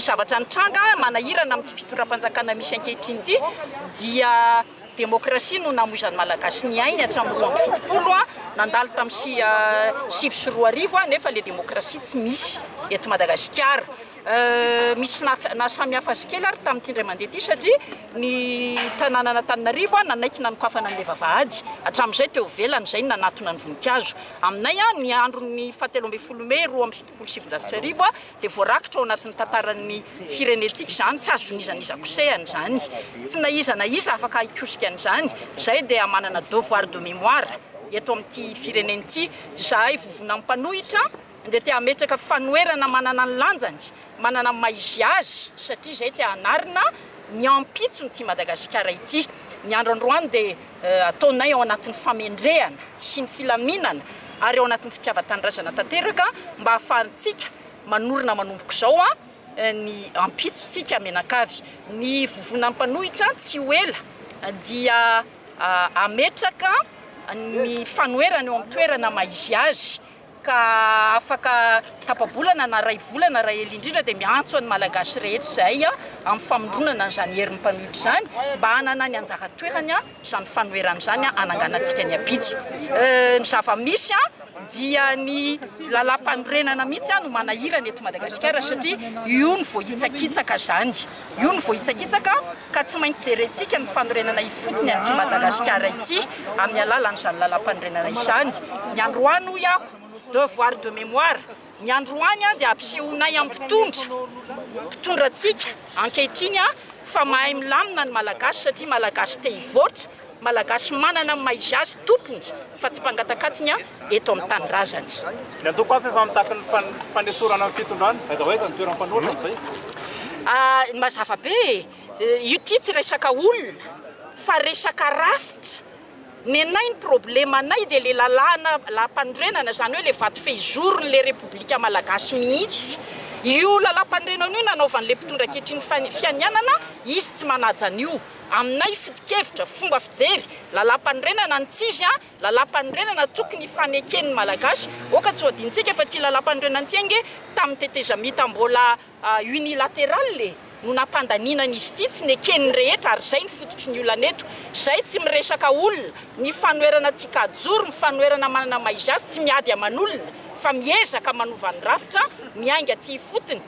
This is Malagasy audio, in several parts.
zavatra nitranga manahirana amin'ity fitondram-panjakana misy ankehitriny ity dia demokrasia no namoizan'ny malagasy ny ainy hatramin'ny roa amby fitopolo a nandalo tamin'ny sivy sy roa arivo a nefa le demokrasia tsy misy eto madagasikara Misy nahasamihafa azy kely ary tamin'ity indray mandeha ity satria ny tanànan'Antananarivo nanaiky nanokafana an'ilay vavahady. Hatramin'izay teo ivelany, izay no nanatona ny voninkazo. Aminay, ny andron'ny fahatelo ambin'ny folo mey roa amby fitopolo sy sivinjato sy arivo dia voarakitra ao anatin'ny tantaran'ny firenentsika izany, tsy azo nizan'iza kosehana izany. Tsy na iza na iza afaka hikosika an'izany. Izahay dia manana devoir de mémoire eto amin'ity firenena ity. Izahay vovonan'ny mpanohitra. dia te hametraka fanoherana manana ny lanjany, manana ny maha izy azy, satria izay te hanarina ny ampitson'ity Madagasikara ity. Ny andro androany dia ataonay ao anatin'ny famendrehana sy ny filaminana ary ao anatin'ny fitiavan-tanindrazana tanteraka mba hahafahantsika manorina manomboka izao ny ampitsontsika mianakavy. Ny vovonan'ny mpanohitra tsy ho ela dia hametraka ny fanoherana eo amin'ny toerana maha izy azy. ka afaka tapa-bolana na iray volana raha ela indrindra dia miantso an'ny Malagasy rehetra izay amin'ny famoronana an'izany herin'ny mpanohitra izany mba hanana ny anjara toerany izany fanoherana izany hananganantsika ny ampitso. Ny zava-misy dia ny lalàmpanorenana mihitsy no manahirana eto Madagasikara satria io no voahitsakitsaka izany. Io no voahitsakitsaka ka tsy maintsy jerentsika ny fanorenana ifotony an'ity Madagasikara ity amin'ny alalan'izany lalàmpanorenana izany. Ny androany hoy aho, devoir de mémoire, ny androany dia ampisehoanay amin'ny mpitondra, mpitondrantsika ankehitriny fa mahay milamina ny Malagasy satria Malagasy te hivoatra, Malagasy manana ny mahaizazy tompony fa tsy mpangatakatiny a eto amin'ny tanindrazany. Ny antoko hafa efa mitaky ny fanesorana ny fitondrana, aiza ho aiza ny toeran'ny mpanoratra amin'izay? Ahh mazava be e! Io ty tsy resaka olona fa resaka rafitra, nenay ny problemanay dia le lalàna lampanorenana zany hoe le vato fehizorony le repoblika malagasy mihitsy, io lalam-panorenana io nanaovan'le mpitondra ankehitriny fianianana izy tsy manaja an'io. Aminay foto-kevitra, fomba fijery, lalampanorenana ny tsizy a, lalampanorenana tokony hifaneken ny Malagasy, oka tsy ho adinontsika fa ty lalampanorenana ty ange tamin'ny tetezamita mbola unilateral e, no nampandaniana an izy ty, tsy neken ny rehetra ary zay ny fototry ny olana eto, zay tsy miresaka olona, ny fanoherana ty kajoro, ny fanoherana manana maizy azy tsy miady aman olona fa miezaka manova ny rafitra miainga ty ifotony.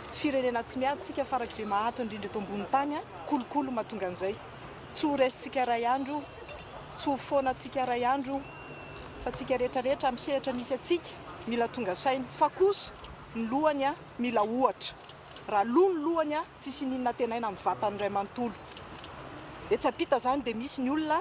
Tsy firenena tsy miady tsika farak ze mahato indrindra eto ambony tany a! Kolokolo mahatonga an'izay! Tsy ho resy tsika ray andro io! Tsy ho foana tsika ray andro io! Fa tsika rehetra rehetra am sehatra misy atsika mila tonga saina! Fa kosa ny lohany a! Mila ohatra! Raha lo ny lohany a! Tsisy hininona antenaina am vatany ray manontolo! Etsy ampita zany de misy ny olona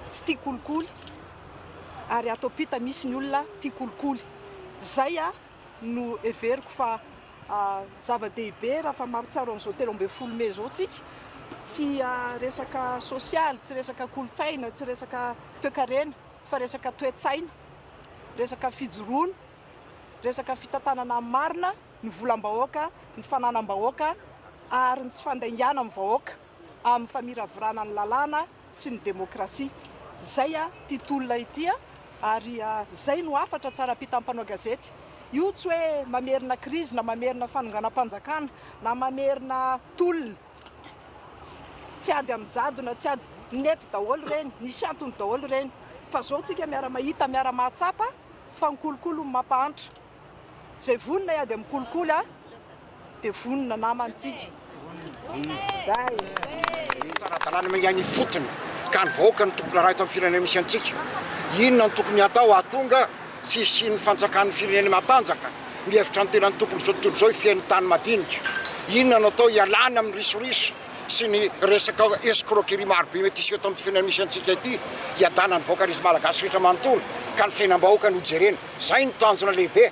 tsy tia kolikoly ary ato ampita misy ny olona tia kolikoly! Zay a! no heveriko fa zava-dehibe raha fa mahatsiaro an'izao telo ambin'ny folo mey izao tsika, tsy resaka sosialy, tsy resaka kolontsaina, tsy resaka toekarena fa resaka toe-tsaina, resaka fijoroana, resaka fitantanana amin'ny marina ny volam-bahoaka, ny fananam-bahoaka ary ny tsy fandaingana amin'ny vahoaka amin'ny famiravirana ny lalàna. sy ny demokrasia. Zay a ty tolona ity a! Ary zay no hafatra tsara ampitan'ny mpanao gazety. Io tsy hoe mamerina krizy na mamerina fanonganam-panjakana na mamerina tolona. Tsy ady amin'ny jadona, tsy ady. Nety daholo ireny, nisy antony daholo ireny. Fa zao tsika miara-mahita, miara-mahatsapa fa ny kolikoly no mampahantra. Izay vonona hiady amin'ny kolikoly dia vonona namana tsika. Ara-dalàna mangana ifotony ka ny vahoaka no tompon-draharaha eto amin'ny firenena misy antsika. Inona no tokony hatao hahatonga sy hisian'ny fanjakan'ny firenena matanjaka? Mihevitra ny tenany tokony izao tontolo izao hifehin'ny tany madinika. Inona no atao hialana amin'ny risoriso sy ny resaka escroquerie marobe mety hiseho eto amin'ny firenena misy antsika ity? Hiadanan'ny vahoaka rehetra malagasy rehetra manontolo ka ny fiainam-bahoaka no jerena. Zay no tanjona lehibe,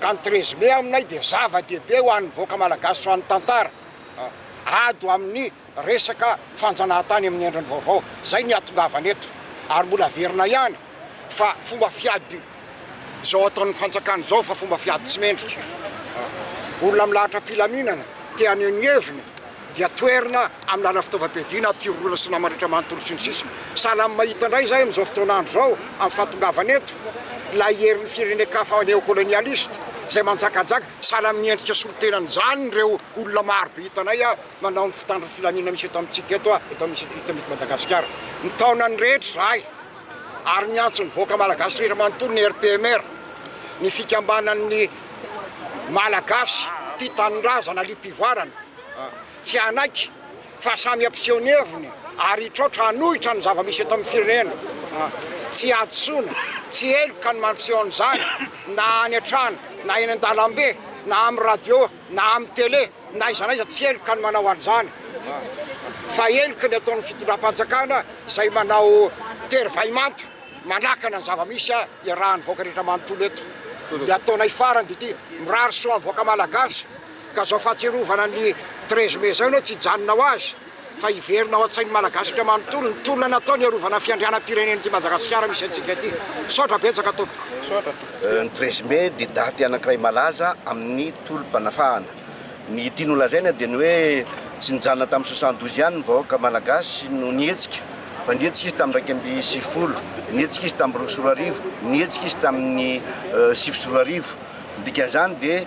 ka ny treize mai aminay dia zava dehibe ho an'ny vahoaka Malagasy sy ho an'ny tantara, ady ho amin'ny resaka fanjanahantany amin'ny endriny vaovao, zay no iatongavana eto, ary mbola averina ihany fa fomba fiady zao ataon'ny fanjakana zao fa fomba fiady tsy mendrika, olona milahatra filaminana te haneho ny heviny dia toerina amin'ny alalan'ny fitaovam-piadiana, pirorona sy namandratra manontolo sy ny sisa. Sahala amin'ny mahita indray izahay amin'izao fotoana andro izao amin'ny fahatongavana eto ilay herin'ny firenen-kafa neokolonialista izay manjakajaka. Sahala amin'ny endrika solotenany izany ireo olona marobe hitanay manao ny fitandron'ny filaminana misy eto amintsika eto, eto amintsika eto Madagasikara. Mitaona ny rehetra izahay. ary niantso ny vahoaka malagasy rehetra manontolo ny RPMR, ny fikambanan'ny Malagasy tia tanindrazana liam-pivoarana, tsy hanaiky fa samy hampiseho ny heviny ary hitraotra hanohitra ny zava-misy eto amin'ny firenena. Tsy hadisoana, tsy heloka ny mampiseho an'izany na any an-trano na eny an-dalambe na amin'ny radio na amin'ny tele. N'aiza n'aiza tsy heloka ny manao an'izany fa heloka ny ataon'ny fitondram-panjakana izay manao tery vay manta manakana ny zava-misy iarahan'ny vahoaka rehetra manontolo eto. Ny ataonay farany dia ity, mirary soa amin'ny vahoaka malagasy ka izao fahatsiarovana ny treize mai izao ianao tsy hijanona ho azy. fa hiverina ao an-tsain'ny Malagasy indray manontolo ny tolona natao ny hiarovana fiandrianam-pirenena ity Madagasikara misy antsika ity. Misaotra betsaka tompoko. Ny treize mai dia daty anankiray malaza amin'ny tolom-panafahana. Ny ity nolazaina dia ny hoe tsy nijanona tamin'ny soixante douze ihany ny vahoaka Malagasy no nihetsika fa nihetsika izy tamin'ny iraika amby sivifolo, nihetsika izy tamin'ny roa sy roa arivo, nihetsika izy tamin'ny sivy sy roa arivo. Ny dikan'izany dia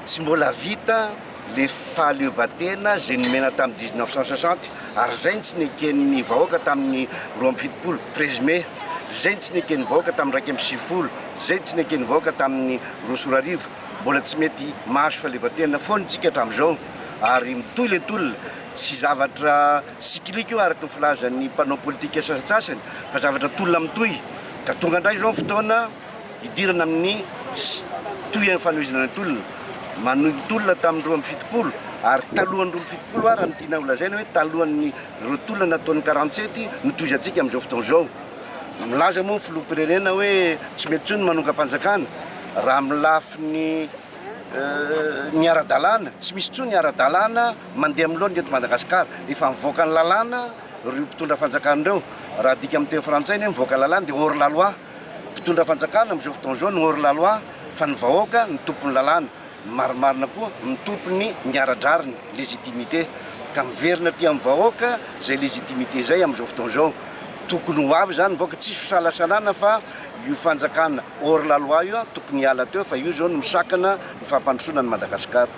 tsy mbola vita. le fahaleovantena zay nomena tamin'ny dix neuf cent soixante ary zay ny tsy neken'ny vahoaka tamin'ny roa amby fitopolo treize mai zay ny tsy neken'ny vahoaka tamin'ny raika amby sivifolo zay ny tsy neken'ny vahoaka tamin'ny roa sy roa arivo mbola tsy mety mahazo fahaleovantena foana isika hatramin'izao ary mitohy le tolona tsy zavatra sikilika io araka ny filazan'ny mpanao politika sasantsasany fa zavatra tolona mitohy ka tonga indray izao ny fotoana hidirana amin'ny Citoyen amin'ny fanohizana ny tolona, manohy ny tolona tamin'ny roa amby fitopolo ary talohan'ny roa amby fitopolo ary raha ny tiana holazaina hoe talohan'ny ireo tolona nataon'ny quarante sept no tohizantsika amin'izao fotoana izao. Milaza moa ny filoham-pirenena hoe tsy mety intsony ny manongam-panjakana raha amin'ny lafiny ny ara-dalàna, tsy misy intsony ny ara-dalàna mandeha amin'ny laoniny eto Madagasikara, efa mivoaka ny lalàna ireo mpitondra fanjakana ireo, raha adika amin'ny teny frantsay ny hoe mivoaka ny lalàna dia hors la loi. Mpitondra fanjakana amin'izao fotoana izao no hors la loi fa ny vahoaka no tompon'ny lalàna, ny marimarina koa mitopy ny miara-drariny, légitimité, ka miverina aty amin'ny vahoaka izay légitimité izay amin'izao fotoana izao. Tokony ho avy izany ny vahoaka, tsisy fisalasalana fa io fanjakana hors la loi io tokony hiala teo fa io izao no misakana ny fampandrosoana an'i Madagasikara.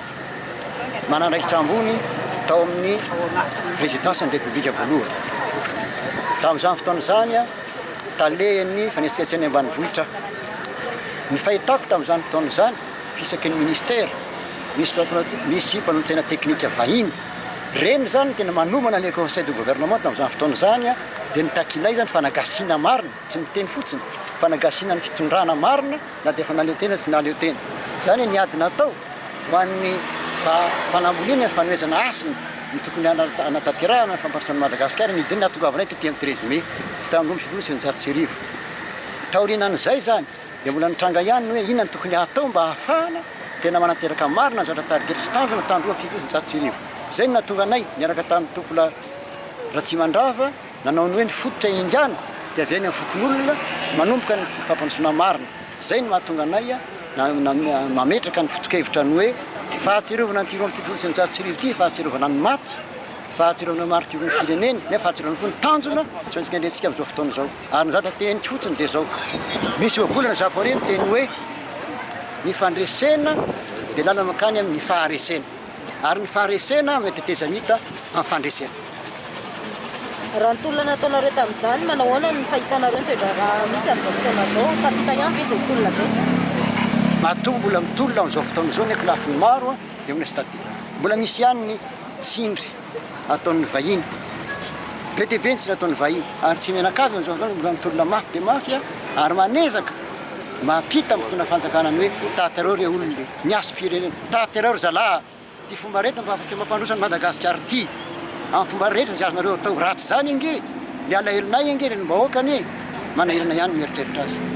manandraikitra ambony tao amin'ny Prezidansin'ny Repoblika voalohany. Tamin'izany fotoana izany, Talehan'ny Fanetsiketsehana Ambanivohitra aho. Ny fahitako tamin'izany fotoana izany, fisaky ny Ministera, misy mpanolo-tsaina teknika vahiny. Ireny izany no tena manomana ilay Conseil de Gouvernement tamin'izany fotoana izany, dia ny takianay izany fanagasiana marina, tsy miteny fotsiny, fanagasiana ny fitondrana marina, na dia efa nahaleo tena sy nahaleo tena. Izany ny ady natao ho an'ny faham-panamboliana ny fanohezana hasina ny tokony hanatanterahana ny fampandrosoan'i Madagasikara ny didy nahatongavanay taty amin'ny treize mai telo amby roapolo sy sivinjato sy eninjato sy arivo. Taorianan'izay izany dia mbola nitranga ihany ny hoe inona no tokony hatao mba hahafahana tena manateraka marina ny zavatra tarigetra sy tanjona tandroy amin'ny fito sy sivinjato sy arivo. Izay no nahatonga anay niaraka tamin'ny Tompolahy Ratsimandrava, Nanao ny hoe ny fototra iangano dia avy any amin'ny fokonolona manomboka ny fampandrosoana marina. Izay no mahatonga anay mametraka ny fotokevitra ny hoe fahatsiarovana an'ity roa amby fitopolo sy eninjato sy arivo ity, fahatsiarovana ny maty, fahatsiarovana ny maritiorn'ny firenena, nefa fahatsiarovana koa ny tanjona tsy maintsy kendrentsika amin'izao fotoana izao. Ary ny zavatra teneniko fotsiny dia izao, misy ohabolana ny Japoney miteny hoe ny fandresena dia lalana mankany amin'ny faharesena. Ary ny faharesena amin'ny tetezamita amin'ny fandresena. Raha ny tolona nataonareo tamin'izany, manao ahoana ny fahitanareo ny toe-draharaha misy amin'izao fotoana izao? Tapitra ihany ve izay tolona izay? Matoa mbola mitolona amin'izao fotoana izao ny ankolafiny maro eo amin'ny stade. Mbola misy ihany ny tsindry ataon'ny vahiny. Be dia be ny tsindry ataon'ny vahiny ary tsy mianakavy amin'izao fotoana, mbola mitolona mafy dia mafy ary manezaka mampita amin'ny mpitondra fanjakana ny hoe taty areo re olona e! Miasom-pirenena. Tanterao ry zalahy a! Ty fomba rehetra mba afaka mampandroso an'i Madagasikara ty. Amin'ny fomba rehetra izay azonareo atao. Raha tsy izany ange, ny alahelonay ange renim-bahoaka anie manahirana ihany ny mieritreritra azy.